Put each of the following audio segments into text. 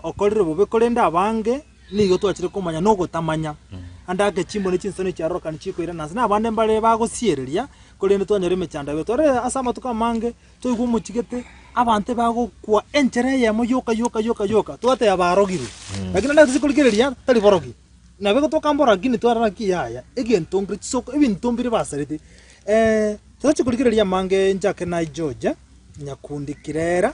okorire bobe korende abange nigo twachire komanya nogotamanya. Ande ake chimbo ne chinsemo echiarorokani chikoirana ase nabande mbare bagosiereria, korende twanyora emechando yabeire. Tware ase amatuko amange twaigwa omochigete abanto bagokwa enchera eyemo yoka yoka yoka yoka twateba barogirwe. Lakini ande tochia korigereria tari borogi. Nabo igo tokambora lakini twarora ng'aki yaya egento mbire chisoko ebinto mbire basarete. Tochi korigereria amange inche ake naichoche nyakundi kirera.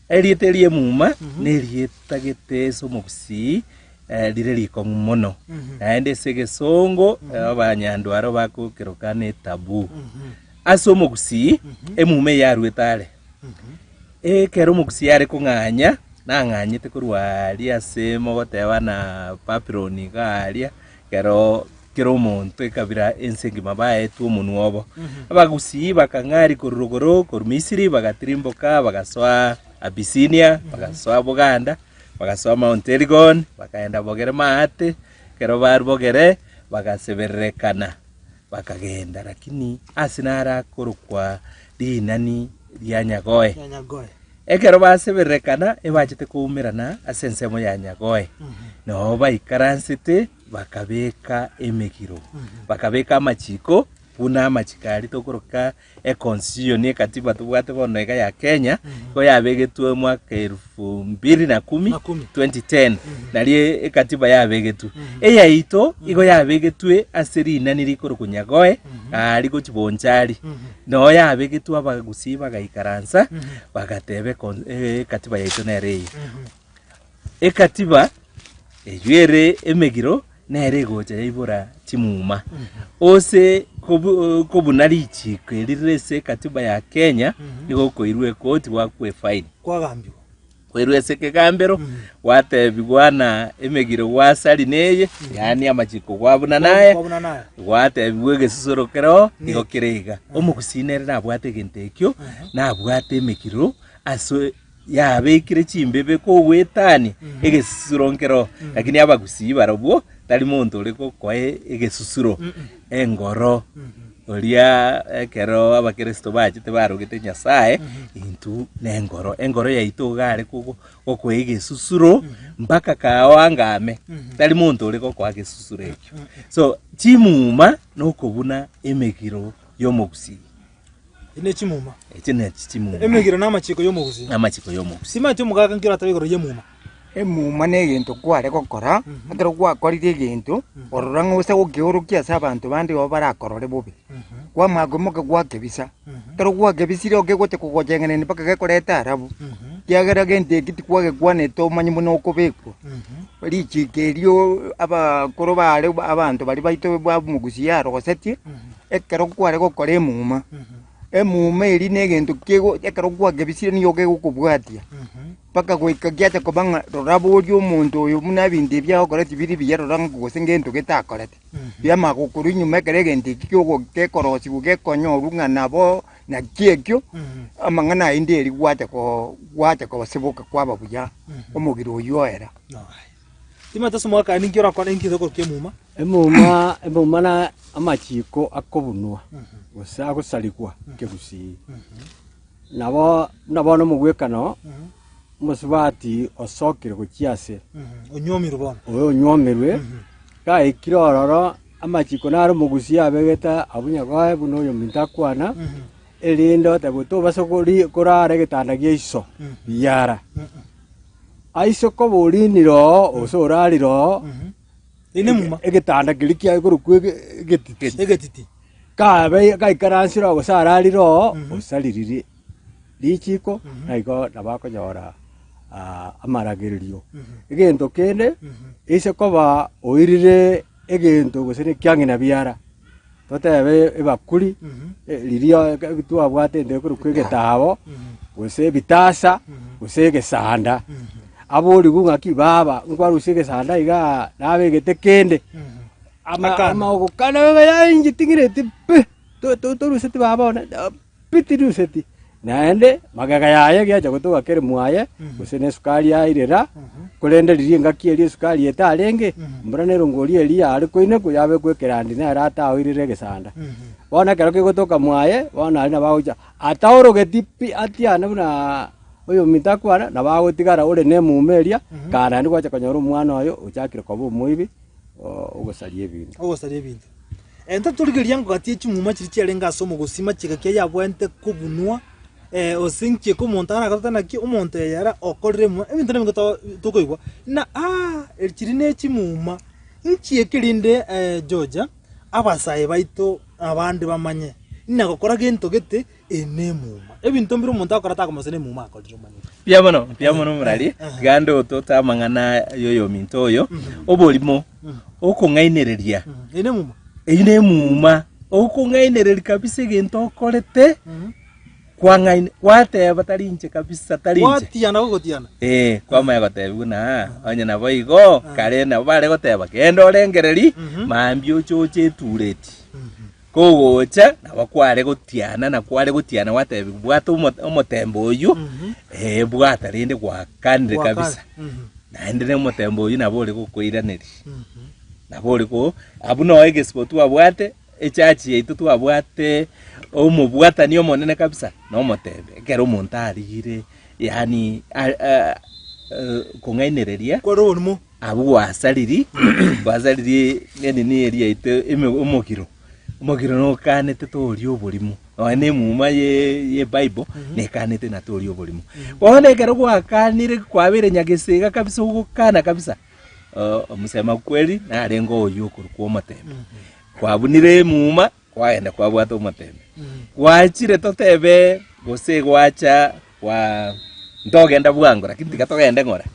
Erieta eria emuma nerieta getese omobusii eh, rire rikong'u mono naende ase egesongo eh, abanyandwaro bakokeroka netabu ase omogusii emuma eye arwete are ekero omogusii are kong'anya nang'anyete korwa aria ase mogoteba na babiloni iga aria Ekero kera omonto ekabira ense engima baetwe omonwa obo, Abagusii bakang'aria korwa rogoro korwa Misiri, bagatirimboka, bagasoa Abisinia, bagasoa Buganda, bagasoa Mount Elgon, bakaenda bogere Maate, ekero barwogere bagasebererekana, Bakagenda, lakini aase narakorokwa Rinani ria Nyagoe. Ekero baseberekana ebachete koumerana ase ensemo ya Nyagoe, nao baikaransete bakabeka emegiro, bakabeka amachiko buna amachiko arito koroka Econstitution ekatiba tobwate bono iga ya Kenya igo yabegetwe omwaka erufu mbiri na kumi, Na kumi. 2010 nario ekatiba yabegetwe eyaito igo yabegetwe ase rinani rikorokwa Nyagoe aa rigochi Bonchari noyo yabegetwe abagusii bagaikaransa bagateba econ- eh, ekatiba yaito nere eye ekatiba eywo ere emegiro Nere egocha yaibora chimuma ose kobuna richiiko eri rire ase ekatiba ya Kenya nigo okoirwa ekoti gwakwa efaini. Kwagambigwa. Koirwa ase ekegambero gwatebigwa na emegiro gwasari neye yaani amachiko gwa buna naya gwatebigwa egesusuro kereo nigo kere iga. Omogusii nere nabwate egento ekio nabwate emegiro ase Yabekire chimbebe kogwetania egesusuro nkero, lakini abagusii barobwo tari monto ore gokoa egesusuro engoro. Oria ekero abakeresto bachete barogete Nyasae, intwe nengoro, engoro yaito iga are kogo- gokoa egesusuro mpaka kaao angame, tari monto ore gokoa gesusuro ekio. So chimuma nokobuna emegiro y'omogusii. Echi ne chimuma. Echi ne chimuma. Emegiro na amachiko y'omogusi. Na amachiko y'omogusi. Simati omogaka nkero atabe igoro y'emuma. Emuma ne egento kware gokora, mhm. ekero gwakorire egento, mhm. orora ng'a ose gokeorokia ase abanto bande igo barakorore bobe. Mhm. Kwamanya koimoka gwakebisa. Ekero gwakebisire igo kegocha kogochengeneni mpaka gekoreta arabu. Kiagera gento eki tikwagekwanete omanye buna okobekwa. Richiko erio abakoro bare abanto baria baito bwa omogusi yarogosetie, ekero kware gokora emuma, emuma eria na egento kego ekero kwakebisirie nigo kegokobwatia mpaka goika giacha koba ng'a rora boria omonto oyo buna ebinto ebio agokoreti biri buya rora ng'a gose ngento getakoreti. Biamanya gokorwa nyuma ekero egento ekio kiogo- gekorosiwa gekonyorwa ng'a nabo naki ekio, amang'ana aye nderi gwacha ko- gwacha kosiboka kwaba buya, omobere oyio oera. Timotheo somokani, inki orakore inki ase okorokwa Emeuma? Emeuma, Emeuma na amachiko akobunwa gose agosarigwa nkegusii. Nabo buna bono omogwekano omosubati osokire gochia ase Onyomirwe bono. oyo onywomirwe gaikire ororo amachiko naro omogusii abegete abwo nyagoe buna oyominto akwana erinde otaigwe tobasa kori- korara egetanda gia iso biyara. Aa isiko boriinire oo gose oraarire oo, egetanda keria kiaye korokwa egetiti, kabe gaikaransire oo gose araarire oo, osaririe richiiko, naigo nabo akonyora amaragererio. Egento kende, ase koba oirire egento gose nekiang'ina biara, totebe ebakuri riria twabwate ende ekorokwa egetabo, gose ebitasa, gose egesanda. Aboriwu ng'aki, baba, nkwarusia egesanda igaa nabegete kende. Ama- Akana. amaogo kane yainye ting'ireti pi, to- to- toruseti baba one. Bitiruseti, naende magega yaye egecha gotoga kerimu aye, gose nesukari yaire ra, korende riria engaki eria esukari etarenge, mbura nerongoria eria yare koinekwa yabekwa ekerandi nere ataoirire egesanda. Bono ekero kegotoka mwaye, bono aria nabo agocha ataorogeti pi atiane buna oyominto akwana, nabo agotigara ore nemuma eria, kare naende gwacha konyora omwana oye ochakire koba omoibi, o- ogosaria ebinto. ogosaria ebinto. Ntaturigeria ngogati ye chimuma chiria chiarenge ase omogosi machiga kia yabwente kobunwa eh, ose nchieke omonto aragotete naki omonto eye ara okorire emuma ebinto nebinge to- tokoigwa na ah, eri chiri ne chimuma nchieke rinde eh, Georgia abasae baito abande bamanye nagokora gento gete Eye nemuma. Ebinto mbire omonto akora takomosana emuma akorire omanyete. Mbuya mono, mbuya mono morari, Eh, eh. tiga ndotote amang'ana y'oyominto oyo. Oborimo, okong'ainereria, Mhm. Eye nemuma. eyio nemuma, okong'ainereria kabisa egento okorete, Mhm. kwang'aini, kwateba tari inche kabisa, tari inche. Gwatiana gogotiana. Eh, kwamanya gotebigwa na onye naboigo, kare nabo bare goteba genda orengererie, Mhm. mambia ochoche etureti. Mhm. Kogocha nabo kware gotiana, na kware gotiana gwatebigwa, Bwata omotemba oyio, ee, bwata, rende gwakanire kabisa. Naende nomotemba oyio nabo ore gokoiraneria. Nabo ore ko, abwo noo egesibo twabwate, echachi yaito twabwate omobwatani omonene kabisa, nomotemba. Ekero omonto arigire, yaani kong'ainereria. Abwo gwasaririe, gwasaririe enini eria yaito eme- omogiro. Omogiro nokanete toria oborimo, nonya na emuma ye- y'Ebible nekanete ng'a toria oborimo. Bono ekero gwakanire kwabeire nyagesega kabisa ogokana kabisa, oo omosema kweri narenge oywo okorokwa omotembe. Kwabunire emuma, kwagenda kwabwata omotembe. Gwachire totebe gose gwacha gwa ntogenda bwango lakini tiga togende ng'ora.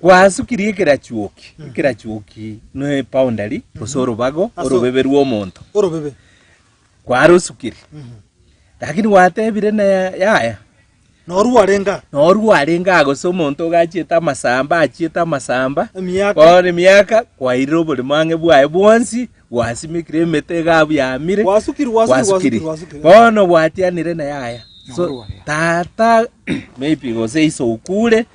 Kwasukirie ekerachuoki, ekerachuoki ne epoundari gose orobago, Ase- orobebe rw'omonto. Orobebe. Kwarosukirie. Lakini gwatebire na ya- yaya, Norwo arenga. norwo arenge aa gose omonto iga achiete amasamba, achiete amasamba, Emiaka. bono emiaka, kwairire oborimo ang'e bwaye bwonsi, Gwasimekire emete egaabu yamire, gwasukirwe, bono gwatianire na yaya. So, tata maybe gose iso okure,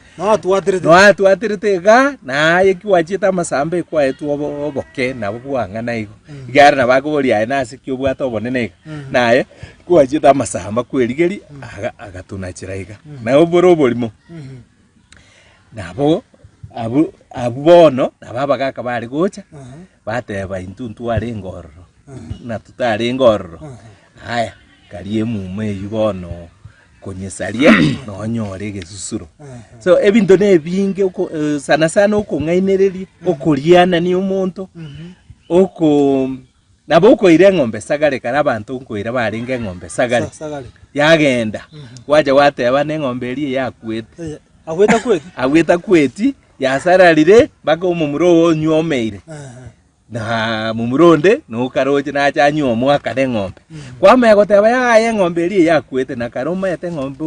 noatwaterete iga, naye ki gwachiete amasamba ekwaetwe obo- oboke nabo bwang'ana igo. Igare nabo akoboria aye nase ki obwate obonene iga, naye ki gwachiete amasamba kwerigeria, aga- agatuna chira iga. Nabo bore oborimo. Nabo abwo abwo bono nabo abagaka bare gocha, bateba, Intwe ntwarenge ororo, buna totarenge ororo, aya, karia emuma eyio bono konyesaria, nonyore egesusuro. So ebinto nebinge oko eh, sana sana okong'ainereria, okorianania omonto, oko. Nabo okoira eng'ombe esagare kare abanto nkoira barenge eng'ombe esagare yagenda gwacha gwateba neng'ombe eria eyakwete agwete akweti yasararire mpaka omomura ogo onyomeire na momura onde nokaroche nacha anywa omwaka neng'ombe kwamanya goteba yaya eng'ombe eria eyakwete na kare omaete eng'ombe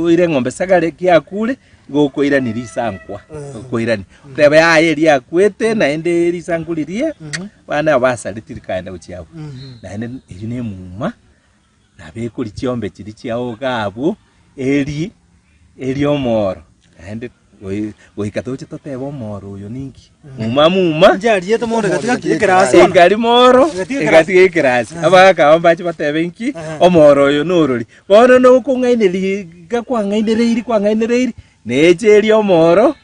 oire eng'ombe esagare kiakure igo okoirania risankwa okoirania oteba yaya eria yakwete naende risankwa riria. Abana abo basare tirikaenda gochia agwo, naende erio nemuma nabekori chiombe chiria chiao iga abwo, eri eri omoro naende goi- goika toche totebe omoro oyo ninki, muma muma Njariete mondo egatiga ki ekerasi bono? egari moro Egatiga ekerasi. egatiga ekerasi abagaka abo mbache batebe inki Aha. omoro oyo norori bono nokong'aineria iga kwang'ainereiri kwang'ainereiri Neeche eria omooro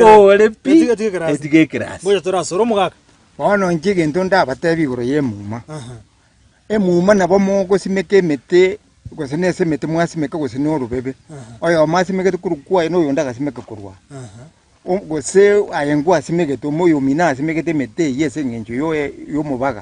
ekoore pi, etige ekerasi. Ngocha torasore omogaka. Bono inche egento ndabateebie igoro y'emuma, emuma nabo mogosimeka emete, gose nase emete mwasimeka gose na orobebe, oyomo asimegete korwa kwaye na oyonde agasimeka korwa aa. O- Gose aye ngwasimegete, omoyio omino asimegete emete eyio ase eng'encho yo- y'omobaga.